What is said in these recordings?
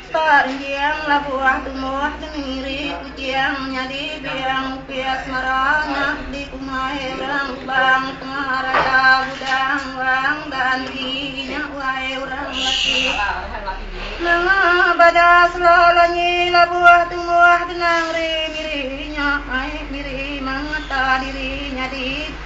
Ka Enjing labu uah tumbuh di mengiri Kuching nyadi biang upis mara anak di kumai orang Kubang tengah raya Gudang Wang dan di inya uai orang laki Nanga bada sela lanyi labu uah tumbuh genang ri miri inya ai miri mangata diri nyadi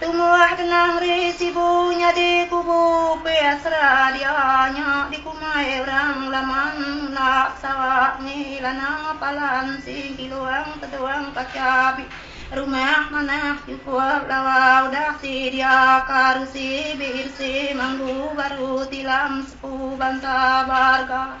Tumbuh genang ri Sibu nyadi kubu Peasra dia nya dikumai orang Laman mula Sarawak Ngelana Palan Sing Kilong Teduang Kachabi Rumah Manah Chukup Lawa Udah ti dia ka Rusi BRC Manggu Baru Tilam Sepu Bansa Barga.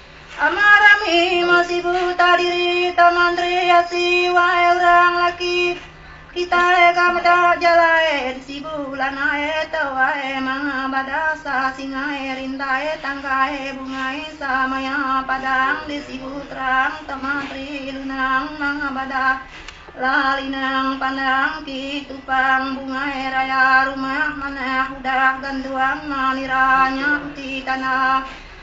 Amah rami meh sibu ta diri taman tri asi wai urang laki kitai ka meda jalai di sibu lanai ta wai manga bada sa singai rindai tanggai bungai sa maya padang di sibu terang taman tri lunang manga bada la linang pandang ki tupang bungai raya rumah manah udah ganduang ma nira nya enti tanda.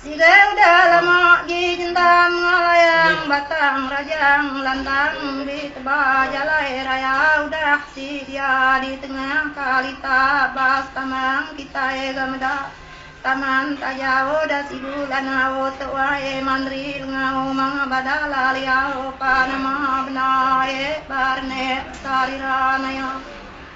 Siga udah lama gi nyendam ngelayang batang rajang lantang di teba jalai raya udah ti dia di tengah kali ta bas tambang kitai ga meda taman taja udah sibu lanau tu ai mandri lengau manga bada laliau pa nama bendar ai ba renek sarira naya.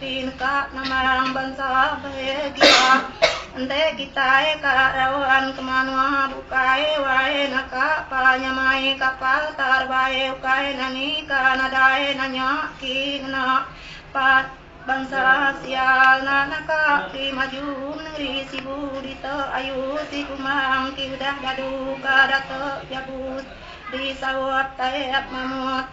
Pin ka ngemarang bansa baie gia ente kitai ka raun ke manua bukai wae naka pa nyamai kapal tar baie ukai nani ka nadai nanya ki ngena pa bansa sial na naka ki maju nengeri sibu dita ayu si kumbang ki udah dadu ka data jabus di saup taep mamut.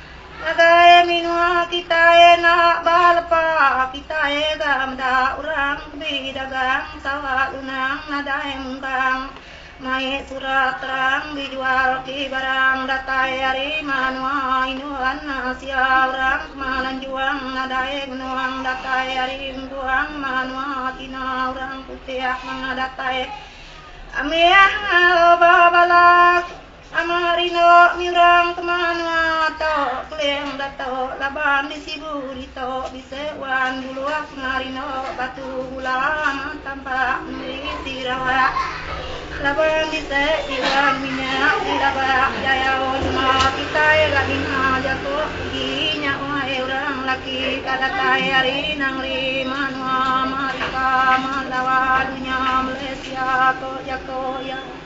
Ngagai menua kitai enda ba lepa kitai ga meda orang be dagang Sarawak Lunang nadai mungkang mai surat terang be jual ti barang datai ari manua Indon asia orang kema lanjung nadai ngenung datai ari engkuang manua China orang putih manga datai amih ngalau ba balas. Nama hari enda miurang kema anua to keling dato laban di sibu dito bise wan buluh kemari enda batu bulang tampak meri ti rawak laban bise ti wan minyak ti rabak jayau lema kitai ga ninga jaku uji nya uai urang laki ka datai ari nangeri manua marika malawa dunya malaysia ko jako iya.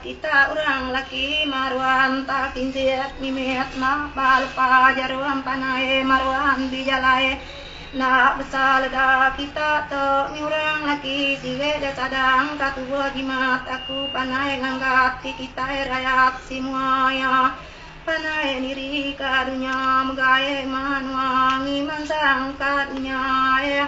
Kita urang laki marua enta kinjit mimit enda ba lepa jarum panai marua di jalai enda besa lega kita tu ni urang laki sirik ga sadang ka tubuh jimat aku panai nganggat ti kitai rayat si mua ia panai niri ka dunya mega eh manua ngi mansang ka dunya eh.